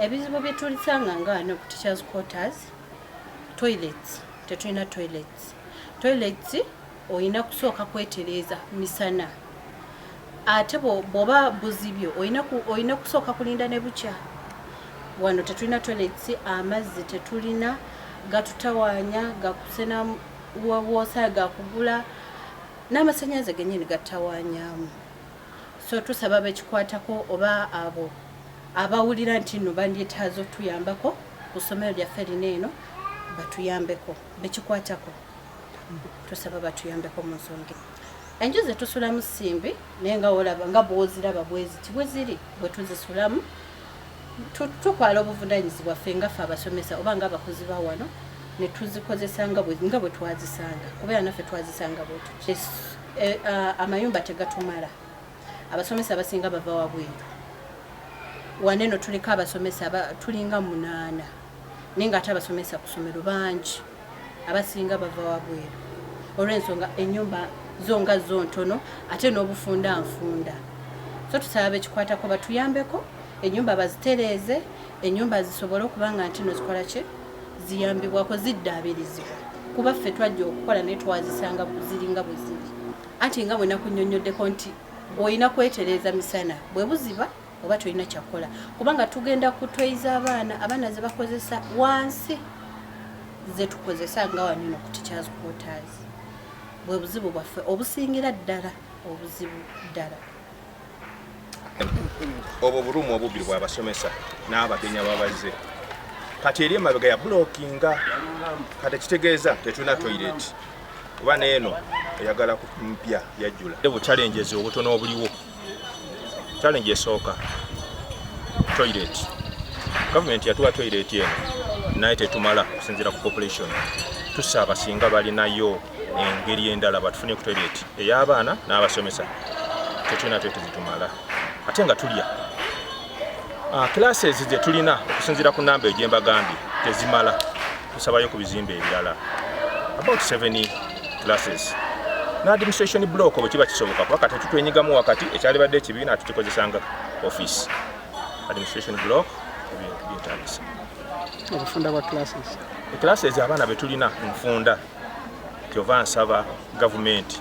ebizibu byetulisanga nga wano ku teachers quarters toilets tetulina toilets toilets olina kusooka kwetereeza misana ate bwoba buzibyo olina kusooka kulinda ne bukya wano tetulina toilets amazzi tetulina gatutawaanya gakusena woosa gakugula n'amasannyalaze genyini gattawaanyaamu So tusaba bekikwatako oba abo abawulira nti no bandyetaaza otuyambako ku ssomero lyaffe lino eno batuyambeko bekikwatako tusaba batuyambeko mu nsonga enju zetusulamu simbi naye nga olaba nga bwoziraba bweziti bweziri bwetuzisulamu Tutwala obuvunaanyizibwa ffe nga ffe abasomesa oba nga abakozi ba wano ne tuzikozesa nga bwe twazisanga kubeera naffe twazisanga bwetu eh, ah, amayumba tegatumala abasomesa abasinga bava wabweru wane eno tuliko abasomesa tulinga munaana naye nga ate abasomesa ku ssomero bangi abasinga bava wabweru olw'ensonga ennyumba zo nga zo ntono ate n'obufunda nfunda so tusaba bekikwatako batuyambeko ennyumba bazitereeze ennyumba zisobole okuba nga ntino zikola ki ziyambibwako ziddaabirizibwa kuba ffe twajja okukola naye twazisanga ziringa bwe ziri anti nga bwe nakunyonyoddeko nti olina kwetereeza misana bwe buziba oba tolina kyakukola kubanga tugenda kutweiza abaana abaana zebakozesa wansi zetukozesa nga wanino ku teachers quarters bwe buzibu bwaffe obusingira ddala obuzibu ddala obwo bulumu obubiri bwabasomesa n'abagenya babaze kati eri emabega ya bulokinga kati ekitegeeza tetulina toireti kuba neeno eyagala mpya yajjula bu challenges obutono obuliwo challenge esooka toilet government yatuwa toilet eno naye tetumala kusinzira ku population tusaaba singa balinayo engeri endala batufune ku toilet ey'abaana n'abasomesa tetulina toilet zitumala ate nga tulya Ah, classes gye tulina okusinziira ku namba egye mbagambye tezimala tusabayo ku bizimba ebirala about seven classes ne administration block bwe kiba kisoboka kuba kati tutwenyigamu wakati ekyalibadde ekibiina tukikozesanga office administration block ebintu byetagisa obufunda bwa classes eclasses abaana betulina nfunda kyova nsaba gavumenti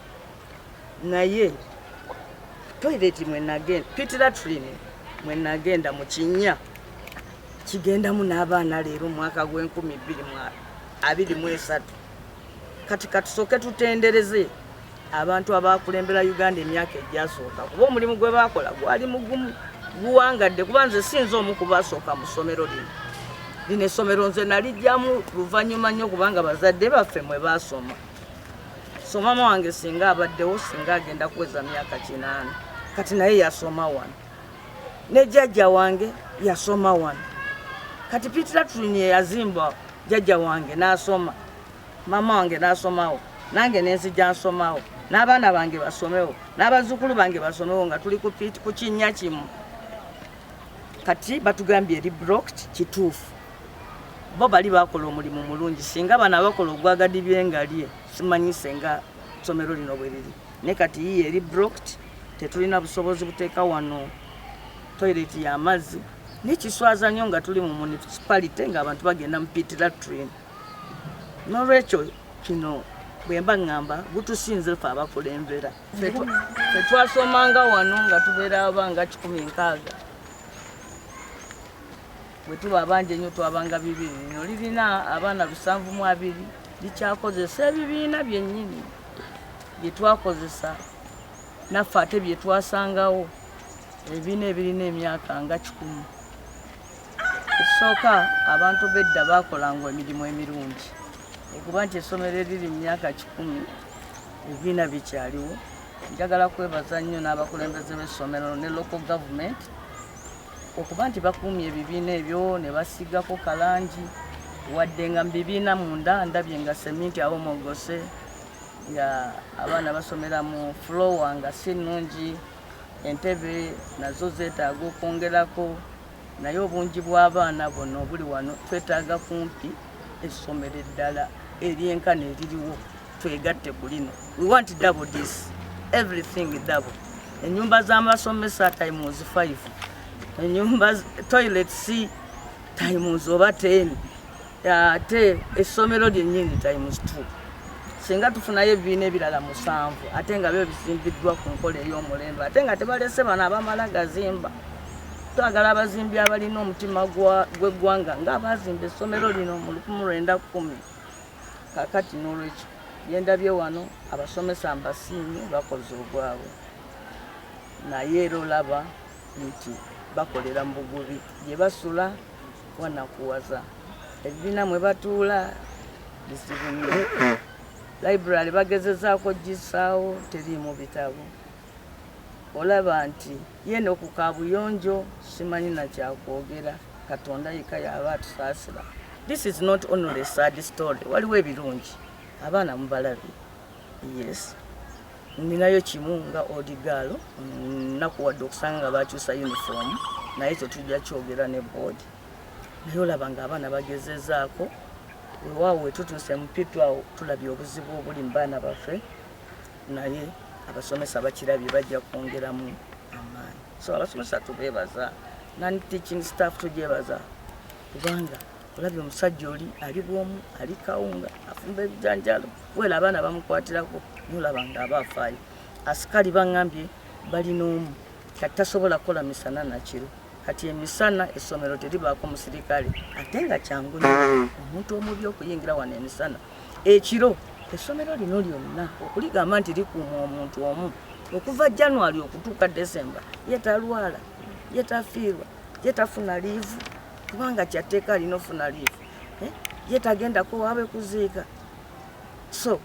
naye toilet mwenagenda pitira trini mwenagenda mu kinya kigendamu n'abaana leero omwaka gw'enkumi bbiri abiri mu esatu kati katusooke tutendereze abantu abakulembera uganda emyaka egyasooka kuba omulimu gwe bakola gwali mugumu guwangadde kuba nze sinza omu kubasooka mu ssomero lino lino essomero nze nalijjamu luvannyuma nnyo kubanga bazadde baffe mwe baasoma so maama wange singa abaddewo singa agenda kuweza myaka kinaana kati naye yasoma wano ne jajja wange yasoma wano kati pitratrin yeyazimba jajja wange nasoma maama wange nasomawo nange nenzija nsomawo n'abaana bange basomewo n'abazzukulu bange basomewo nga tuli ku kinnya kimu kati batugambye eri brokt kituufu bo bali bakola omulimu mulungi singa bano abakola ogwagadibye ngalye simanyi senga somero lino bwe liri ne kati yiye eri brokt tetulina busobozi buteeka wano toilet y'amazzi nekiswaza nnyo nga tuli mu municipality ngaabantu bagenda mu pit latrin nolwekyo kino bwemba ŋŋamba gutusinze fe abakulembera fetwasomanga wano nga tubeera abanga kikumi nkaaga Bwe tuba abangi ennyo twabanga bibiri, lino lirina abaana lusanvu mu abiri likyakozesa ebibiina byennyini bye twakozesa naffe ate bye twasangawo ebibiina ebirina emyaka nga kikumu. Ekisooka abantu bedda baakolanga emirimu emirungi okuba nti essomero eriri mu myaka kikumi ebibiina bikyaliwo. Njagala kwebaza nnyo n'abakulembeze b'essomero ne local government. okuba nti bakuumye ebibiina ebyo ne basiigako kalangi wadde nga mu bibiina munda ndabye nga seminti awomogose nga abaana basomera mu fulowa nga si nnungi entebe nazo zeetaaga okwongerako naye obungi bw'abaana buno obuli wano twetaaga kumpi essomero eddala eryenkana eririwo twegatte ku lino we want double this everything double enyumba z'amasomesa times 5 enyumba toilet c times oba 10 ate essomero lyennyini times 2 singa tufunayo ebibiina ebirala musanvu ate nga byo bizimbiddwa ku nkola ey'omulembe ate nga tebalese bano abamala gazimba twagala abazimbi abalina omutima gw'eggwanga nga abazimba essomero lino mu 1910 Kaakati n'olwekyo, bye ndabye wano, abasomesa mbasiimye, bakoze ogwabwe. Naye era olaba nti bakolera mu bugubi, gye basula wanakuwaza, ebibiina mwe batuula bizibu nnyo, library bagezezaako kugissaawo, teriimu bitabo, olaba nti. Yeno ku kabuyonjo simanyi na kyakwogera katonda yeka yaba atusasira this is not only a sad story waliwo ebirungi abaana mubalabi yes ninayo kimu nga odigaalo nakuwadde okusanga nga bakyusa uniform naye ekyo tujja kyogera ne board naye olaba nga abaana bagezezaako wewaawo wetutuuse mupitu awo tulabye obuzibu obuli mu baana baffe naye abasomesa bakirabye bajja kwongeramu amaanyi so abasomesa tubeebaza nani teaching staff tugyebaza kubanga olabye omusajja oli ali bwomu ali kawunga afumba ebijanjalo wela abaana bamukwatirako nolaba nga aba afaayo asikali baŋambye balina omu kati tasobola kukola misana nakiro kati emisana essomero teribaako musirikale ate nga kyangu omuntu omubi okuyingira wano emisana Ekiro essomero lino lyonna okuligamba nti likuuma omuntu omu okuva January okutuuka December ye talwala, ye tafiirwa, ye tafuna liivu kubanga kyatteeka alina ofuna liivu, eh? ye tagendako waabe kuziika so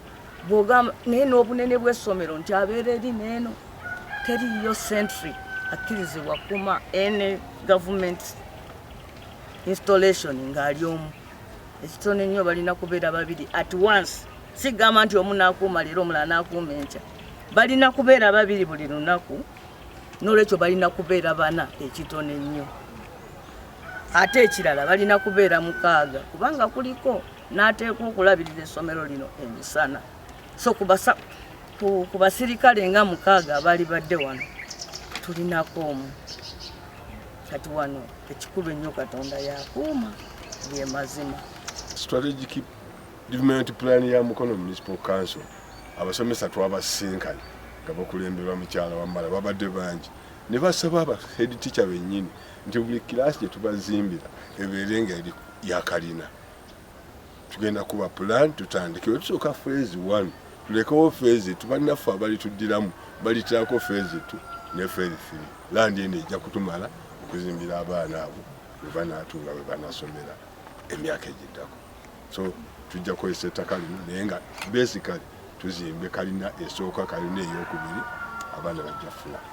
bwogamba naye n'obunene bw'essomero nti abeera eri neeno teriyo sentry akkirizibwa kuma ene gavumenti installation ng'ali omu ekitono ennyo balina kubeera babiri at once sigamba nti omu nakuuma leero omulala nakuuma enkya balina kubeera babiri buli lunaku nolwekyo balina kubeera bana ekitono ennyo ate ekirala balina kubeera mukaaga kubanga kuliko nateekwa okulabirira essomero lino emisana so kubasa ku basirikale nga mukaaga abaali badde wano tulinako omu kati wano ekikulu ennyo katonda yakuuma bye mazima strategic development plan ya mukono municipal council abasomesa twabasinkanye nga bakulemberwa mukyala wamala babadde bangi ne basaba aba head teacher bennyini nti buli kiraasi gye tubazimbira ebeere nga eri yakalina tugenda kuba plan tutandike wetusooka phase one tulekewo phase tu bannaffe abalituddiramu balitirako phase tu ne phase three landi eno ejja kutumala okuzimbira abaana abo webanatunga webanasomera emyaka egiddako so tujja kukozesa ettaka lino naye nga basically tuzimbe kalina esooka kalina eyokubiri abaana bajja funa